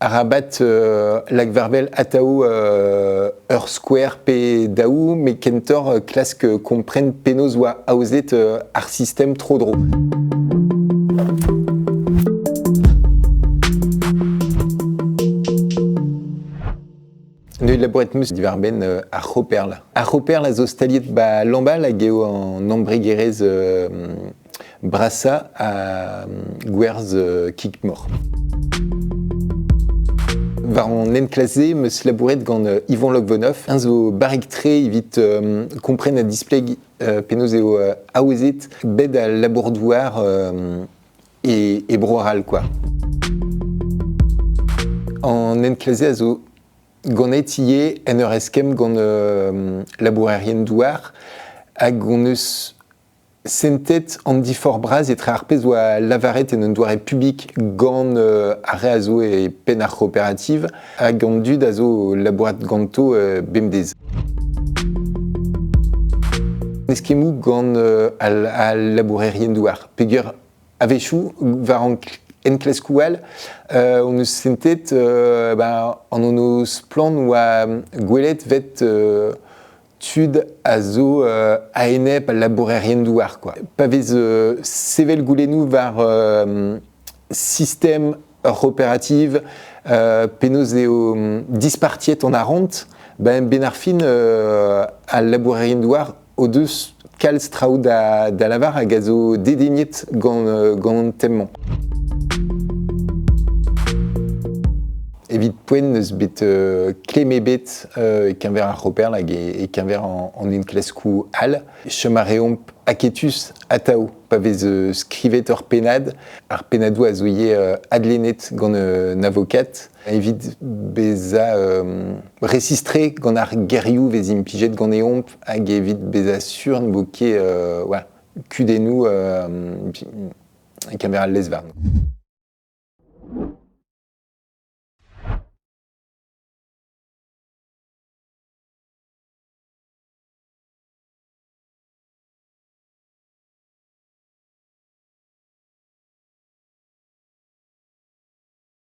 Arabat euh, lagvarvel ataou euh, ur skouer pe daou, mais kentoc'h euh, klask kompren penaos oa aozet ar sistem tro dro. Neuet labouret meus divarben ar c'hoperl. Ar c'hoperl a zo staliet ba Lambal hag eo an embregerezh Brasañ a gwerzh euh, Kikmor. War an enklaze, eus labouret gant euh, Ivan Lokvonov. Un zo barrek-tre evit euh, kompren ha displeg penaos eo aozet bed al labour-douar et, et broaral quoi. En enklaze a zo ganet ivez en ur eskemm gant labourerien douar hag on eus Sentet an diforc'h-bras etre ar pezh oa lavaret en un doare publik gant euh, ar re a zo e penn ar c'hooperativ hag an dud a zo labourat ganto euh, bemdez. Eskemmoù gant euh, al, labourerien-douar. Peger a-wechoù, war an enklaskoù all, euh, on eus sentet euh, bah, an ono splan oa gwelet vet euh, tud a zo euh, a-enep al labourerien-douar. Quoi. Pa vez euh, sevel goulennoù war euh, système opératif euh, penaos eo dispartiet en arront, ben Benarfin euh, al labourerien-douar o deus kalz traoù da lavar hag a zo dedignet gant, gant tem-mañ. Evit poent n'eus bet euh, klemm ebet euh, e keñver ar C'hooperl hag e, keñver en, en une klaskou all. Chom a reomp aketus atav pa vez euh, skrivet ur pennad. Ar pennadoù a zo ivez adlennet gant un avokat. Evit bezañ resistre gant ar gerioù vez implijet ganeomp hag evit bezañ sur ne vo ket kudennoù kamerat lezvarn.